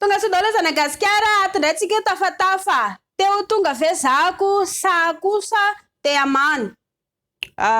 Tonga sy ndoa lezana gasikara ato ndray tsika io tafatafa te ho tonga ve zako sa kosa te hamano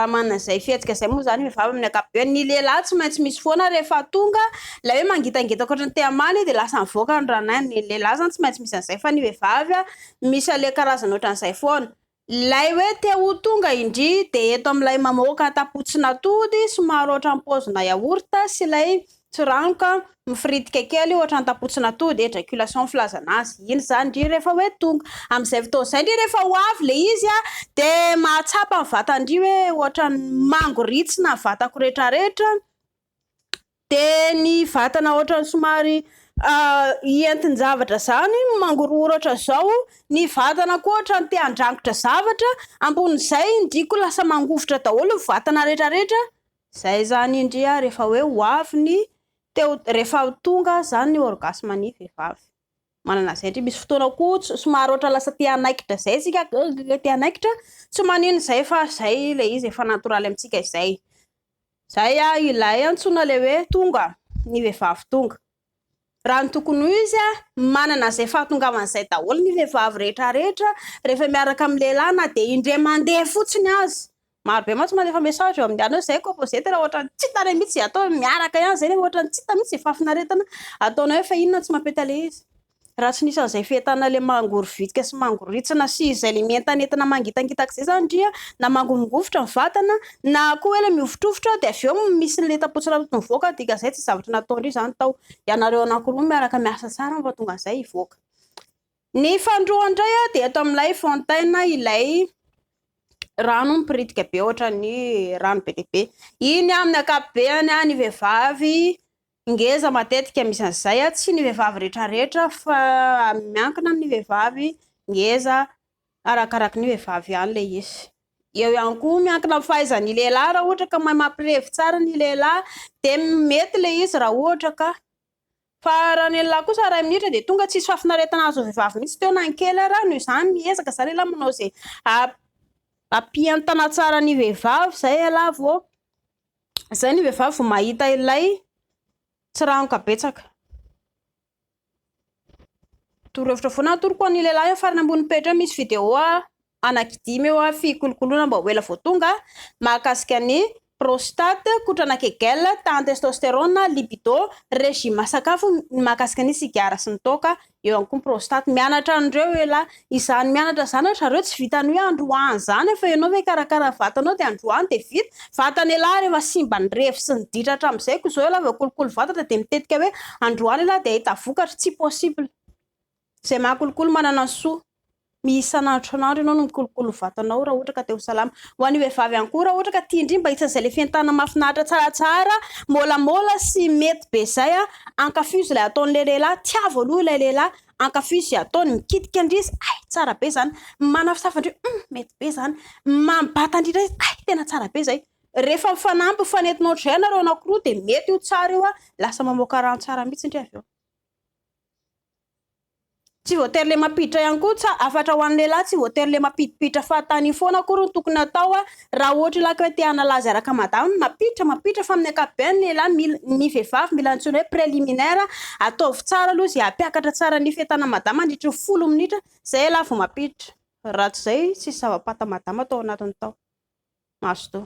manana zay fihetsika zay moa zany vehivavy amin'ny akapobeany ny lehilahy tsy maintsy misy foana rehefa tonga ilay hoe mangitangita akoatra ny te hamano io dia lasa mivoaka ny ranahiny ny lehilahy zany tsy maintsy misy an'izay fa ny vehivavy misy ale karazana ohatran'izay foana Ilay hoe te ho tonga indry dia eto amin'ilay mamoaka tapotsin'atody somary ohatran'ny paozina yaourt sy ilay tsiranoka mifiritika kely ohatran'ny tapotsin'atody, éjaculation ny filazana azy, iny izany indry rehefa hoe tonga. Amin'izay fotoana izay indry rehefa ho avy ilay izy dia mahatsapa ny vatany indry hoe ohatran'ny mangoritsina ny vatako rehetrarehetra dia ny vatana ohatran'ny somary hientin-javatra izany mangorohorotra izao ny vatana koa ohatran'ny te handrangotra zavatra ambonin'izay indriko lasa mangovitra daholo ny vatana rehetra rehetra izay izany indria rehefa hoe ho avy ny teo rehefa tonga izany ny orgasme ny vehivavy manana izay indry misy fotoana koa somary ohatra lasa te hanaikitra izay isika te hanaikitra tsy maninona izay fa izay ilay izy efa natoraly amintsika izay Zay a ilay antsoina le hoe tonga ny vehivavy tonga. Raha ny tokony ho izy a, manana zay fahatongavana zay daholo ny vehivavy rehetra rehetra rehefa miaraka amin'ny lehilahy na dia indray mandeha fotsiny aza. Maro be mantsy manefa message eo amin'ny anona zay composé tena ohatran'ny tsy hita re mitsy atao miaraka ihany zay nefa ohatran'ny tsy hita mitsy fahafinaretana ataonao efa inona tsy mampety ale izy. Raha tsy nisy an'izay fientana ilay mangorovitika sy mangorintsina sy izay ilay mientanentana mangitangitaka izay izany ndry a, na mangovingovitra ny vatana na koa hoe ilay mihovotrovotra dia avy eo misy ny lentam-potsiranoto mivoaka dia izay tsy zavatra natao ndry izany tao. Ianareo anankiroa miaraka miasa tsara no mahatonga an'izay hivoaka. Ny faharoa indray a, dia eto amin'ilay fontaine ilay rano miporitika be ohatran'ny rano be dia be. Iny amin'ny ankapobeny a, ny vehivavy, Ngeza matetika misy an'izay a, tsy ny vehivavy retraretra fa miankina amin'ny vehivavy, ngeza arakaraky ny vehivavy ihany ilay izy. Eo ihany koa miankina amin'ny fahaizan'ny lehilahy raha ohatra ka mahay mampirevy tsara ny lehilahy dia mety ilay izy raha ohatra ka. Fa raha ny lehilahy kosa iray minitra dia tonga tsisy fahafinaretana azon'ny vehivavy mihitsy teo na ny kely ary, noho izany miezaka izaho lehilahy manao izay hampientana tsara ny vehivavy izay ialahy vao Izay ny vehivavy vao mahita ilay tsiranoka betsaka. Torohevitra foana atoroko ho an'ny lehilahy eo farany ambony pejy eo misy video anankidimy eo fikolokoloana mba ho ela vao tonga mahakasika ny prostate, kotrana kegel, tahan'ny testosterone, libido, regime sakafo, ny mahakasika ny sigara sy ny toaka Eo ihany koa ny prostate. Mianatra an'ireo elah. Izany mianatra izany ry zareo tsy vitan'ny hoe androany izany fa ianao ve hikarakara vatanao dia androany dia vita. Vatana elah rehefa simba ny revy sy ny ditra hatramin'izay koa izao elah vao kolikoly vatana dia mitetika hoe androany elah dia hahita vokatra. Tsy possible. Izay mahakolikoly manana ny soa. Ny isan'andro isan'andro ianao no mikolokolo vatanao raha ohatra ka te ho salama. Ho an'ny vehivavy ihany koa, raha ohatra ka tia indrindra mba isan'izay ilay fientanana mahafinaritra tsaratsara, môlamôla sy mety be izay, ankafizo ilay ataon'ilay lehilahy, tiavo aloha ilay lehilahy, ankafizo izay ataony, mikitika indry izy, hay, tsara be izany, manafosafa indry, hum, mety be izany, mambata indrindra izy, hay, tena tsara be izay. Rehefa mifanampy, mifanentina ohatr'izay ianareo anankiroa dia mety io tsara io, lasa mamoaka rano tsara mihitsy indry avy eo. Tsy voatery le mampiditra ihany koa tsa afatra ho an'ny lehilahy tsy voatery le mampidipiditra fahatany io foana akory no tokony atao a raha ohatra ilay ko te anala azy araka madama no mampiditra mampiditra fa amin'ny ankapobeany lehilahy mila ny vehivavy mila antsoina hoe preliminaire ataovy tsara aloha zay hampiakatra tsara ny fetanan'i madama mandritry ny folo minitra zay ialahy vao mampiditra raha tsy zay tsisy zava-pata madama tao anatiny tao mazotoa